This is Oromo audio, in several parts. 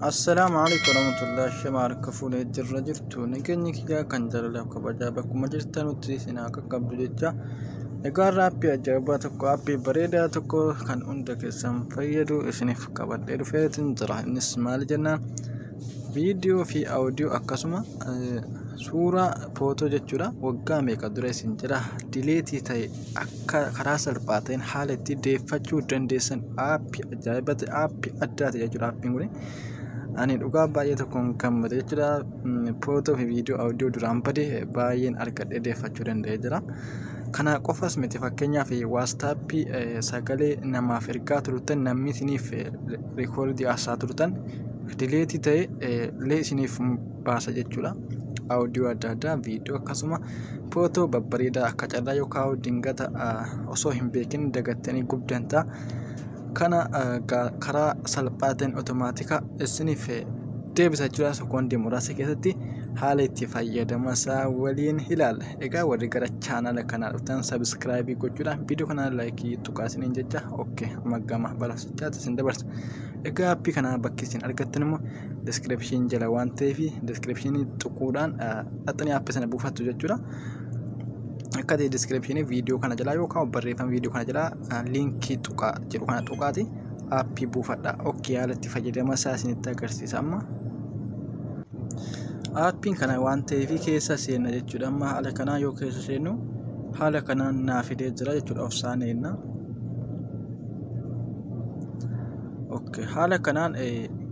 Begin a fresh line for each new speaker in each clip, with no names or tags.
Assalaamu alaikum warahmatullahi shama harka fuula ittirra jirtu nageenyi kiyyaa kan jaalalaaf kabajaa bakkuma jirtanutti isin haa qaqqabdu jecha egaa har'a appii ajaa'ibaa tokko appii bareedaa tokko kan hunda keessan fayyadu isiniif qabadhee dhufeetin jira innis maali jennaan viidiyoo fi audio akkasuma eh, suuraa footoo jechuudha waggaa meeqa dura isin jira dileetii ta'e akka karaa salphaa ta'een haala itti deeffachuu dandeessan aappi ajaa'iba ta'e aappi addaa ta'e jechuudha aappiin kun ani dhugaa baay'ee tokkoon gammade jechuudha footoo fi viidiyoo audio duraan bade baay'een argadhee deeffachuu danda'ee jira kana qofas miti fakkeenyaaf waastaappii sagalee namaaf ergaa turtan namni isiniif rikoordii haasaa turtan dileetii ta'e illee isiniif baasa jechuudha. Audio adda addaa, viidiyoo akkasuma footoo babbareedaa akka carraa yoo kaa'u dingata osoo hin beekin dagattanii gubdan ta'a. Kana karaa salphaa ta'een otomaatika isiniif deebisa jechuudha. Sekoondii muraasa keessatti haala itti fayyadama isaa waliin ilaalla. Egaa warri gara chaanaala kanaa dhuftan sabiskiraayibii gochuudhaan viidiyoo kana laayikii tuqaa isiniin jecha okkee amma gama barasichaatti isin dabarsa. Egaa appii kana bakki isin argattan immoo description jala waan ta'eef description xuquudhaan dhaxxanii app sana buufattu jechuudha. Akka ta'e description viidiyoo kana jalaa yookaan barreeffama viidiyoo kana jalaa liinkii tuqaa jedhu kana tuqaati appii buufadha. Ok haala itti fayyadama isaa isinitti agarsiisa amma. Appiin kana waan ta'eef keessa seenna jechuudha. Amma haala kanaa yoo keessa seennu haala kanaan naa fidee jira jechuudha of saaneenna. Okay. Haala kanaan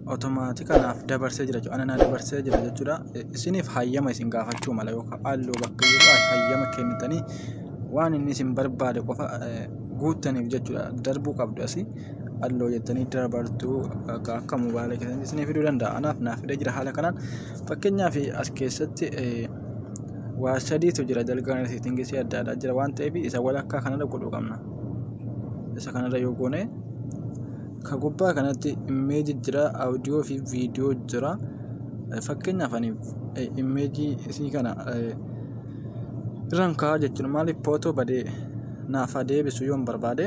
otomaatika naaf dabarsee jira jechuudha. Ana naa dabarsee jira jechuudha. Isiniif hayyama isin gaafachuu mala yookaan halluu bakka jiru hayyama kennitanii waan inni isin barbaade qofa guuttaniif jechuudha. Darbuu qabdu asii halluu jettanii dabartuu akka mobaayila keessatti isinii fiduu danda'a. Anaaf naaf fidee jira haala kanaan. Fakkeenyaaf as keessatti waa sadiitu jira dalgaan seetingii adda addaa jira waan ta'eef isa walakkaa kanarra godhuu qabna. isa kanarra yoo goone ka gubbaa kanatti immeeji jira audio fi viidiyoo jira fakkeenyaaf ani immeejii isii kana irraan kaa'aa jechuun maaliif footoo badee naaf haa deebisu yoon barbaade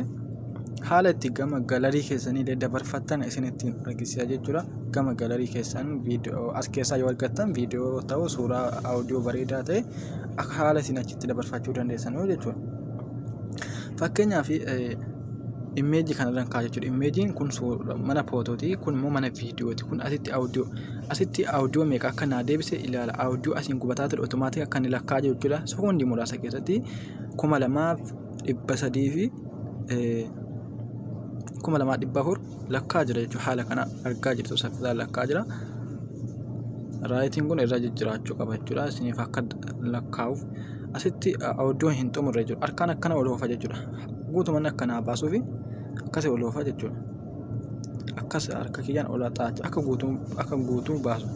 haala itti gama galarii keessanii illee dabarfattan isin ittiin argisiisa jechuudha gama galarii keessan viidiyoo as keessaa yoo argattan viidiyoo ta'u suuraa audio bareedaa ta'e akka haala isin achi itti dabarfachuu dandeessanuu jechuudha. Fakkeenyaaf immeejii kanarraan kaa'a jechuudha. Immeejiin kun mana footooti kun immoo mana viidiyooti. Kun asitti audio asitti audio meeqa akka naa deebise ilaala. Audio asiin gubataa ture automaatik akka inni lakkaa'aa jiru jechuudha. Sekondii muraasa keessatti kuma lamaaf dhibba sadii fi kuma lamaaf dhibba afur. lakkaa jira jechuudha haala kana argaa jirtu saffisaan lakkaa jira raayitiin kun irra jijjiraachuu qaba jechuudha isiniif akka lakkaa'uuf asitti oduun hin xumurre jechuudha harkaan akkana ol oofa jechuudha guutumaan akkanaa baasuufi akkasi ol oofa jechuudha akkas harka kiyyaan ol xaacha akka guutuu akka guutuu baasu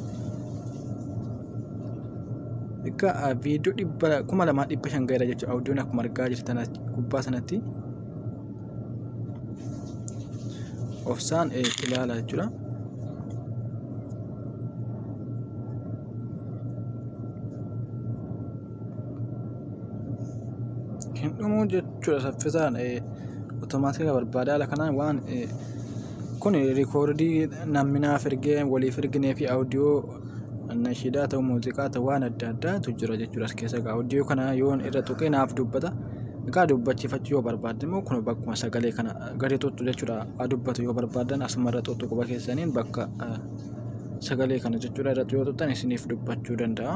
Akka viidiyoo dhibba kuma lamaa dhibba shan gaheera jechuudha. Oduun akkuma argaa jirtan gubbaa sanatti. obsaan ilaala jechuudha. Hin dhumuu jechuudha saffisaan otomaatika barbaada haala kanaan waan kun rikoordii namni naaf ergee waliif erginee fi audiyoo Nashiidaa ta'u muuziqaa ta'u waan adda addaatu jira jechuudha as keessa egaa hojii kana yoon irra tuqee naaf dubbata. Egaa dubbachifachuu yoo barbaadde immoo kun bakkuma sagalee kana gadi tuttu jechuudha haa dubbatu yoo barbaaddan asuma irra tuttu quba keessaniin bakka sagalee kana jechuudha irratti yoo tuttan isiniif dubbachuu danda'a.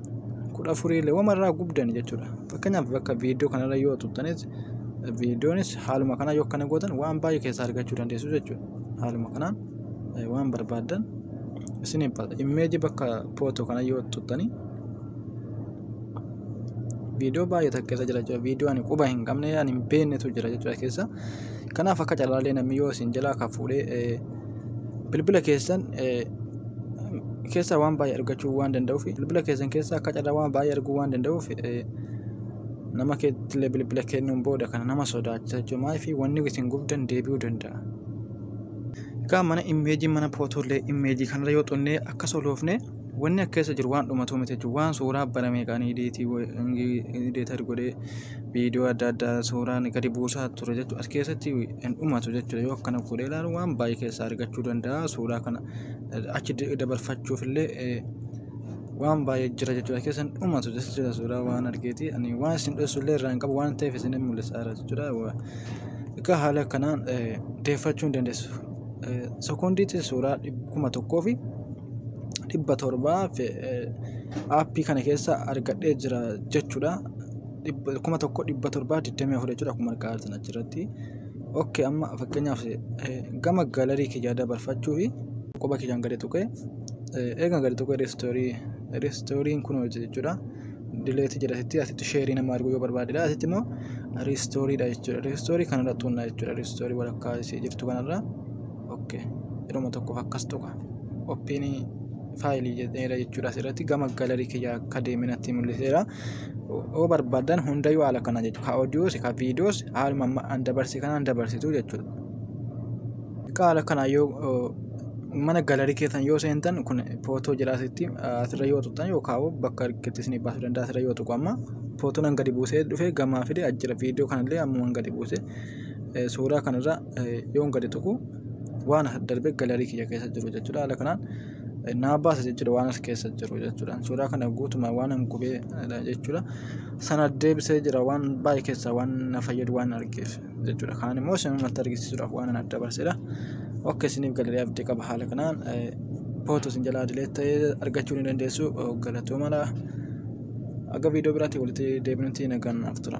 kudha afuriilee wama irraa gubdan jechuudha. Fakkeenyaaf bakka viidiyoo kanarra yoo tuttanis viidiyoonis haaluma kanaa yoo akkana gootan waan baay'ee keessaa argachuu dandeessu jechuudha. Haaluma kanaan eh, waan barbaaddan isin ibsata. Immeeji bakka footoo kana yoo tuttanii viidiyoo baay'ee takka keessa jira jechuudha. Viidiyoo ani quba hin qabne ani hin beeknetu jira jechuudha keessa. Kanaaf akka carraallee namni yoo isin jalaa kan fuudhee eh, bilbila keessan keessaa waan baay'ee argachuu waan danda'uuf bilbila keessan keessaa akka carraa waan baay'ee arguu waan danda'uuf nama keettillee bilbila kennuun booda kana nama sodaachisa jechuudha fi wanni isin gubdan deebi'uu danda'a. Egaa mana immeejii mana pootoollee immeejii kanarra yoo xunnee akka soloofne Wanni akka keessa jiru waan dhumatuu miti jechuudha. Waan suuraa bara meeqaan idiitii deetar godhee viidiyoo adda addaa suuraan gadi buusaa ture jechuudha. As keessatti hin dhumatu jechuudha. Yoo akkana godhee ilaalu waan baay'ee keessaa argachuu danda'a. Suuraa kana achi dabarfachuuf illee waan baay'ee jira jechuudha. Keessa hin dhumatu jechuudha suuraa waan argeeti. Ani waan isin dho'isu illee irraa hin qabu waan ta'eef isin mul'isaa jira jechuudha. Egaa haala kanaan deeffachuu hin dandeessu. Sekoondiitti suuraa kuma tokkoo fi dhibba torbaaf aappii kana keessa argadhee jira jechuudha. kuma tokko dhibba torbaa digdamii afur jechuudha akkuma argaa jirtan achirratti. Ok amma fakkeenyaaf gama galarii kiyyaa dabarfachuuf quba kiyyaan gadi tuqee eegan gadi tuqee reestoorii reestooriin kun hojii jechuudha. Dileetii jedha asitti asitti sheerii nama arguu yoo barbaadedha asitti immoo reestooriidha jechuudha. Reestoorii kanarra tuqna jechuudha reestoorii walakkaa ishee jirtu kanarra. ok yeroma tokkoof akkas tuqa oppiin faayilii jedheera jechuudha asirratti gama galarii kiyya akka deeminatti mul'iseera yoo barbaadan hundayyuu haala kana jechuudha ka oodiyoos ka viidiyoos haaluma amma an dabarse kanaan dabarsitu jechuudha egaa haala kana yoo oo, mana galarii keessan yoo seentan kun footoo jira asitti asirra yoo tuqxan yookaan bakka argitti isin baasuu danda'a asirra yoo tuqu amma footoon an gadi buusee dhufe gamaa fide ajjira viidiyoo kanallee ammuman gadi buuse eh, suuraa kanarra yoon gadi tuqu waan as darbe galarii kiyya keessa jiru jechuudha. Haala kanaan naa baasa jechuudha waan as keessa jiru jechuudha. Suuraa kana guutumaan waan an gubee jechuudha. Sana deebisee jira waan baay'ee keessaa waan na fayyadu waan argeef jechuudha. Kaan immoo isin uummata argisiisuudhaaf waan an adda baasedha. Akka isiniif galarii abdii qaba haala kanaan pootu isin jalaa dileet ta'ee argachuu ni dandeessu galatoomaa. Aga viidiyoo biraatiin walitti deebinutti nagaan naaf tura.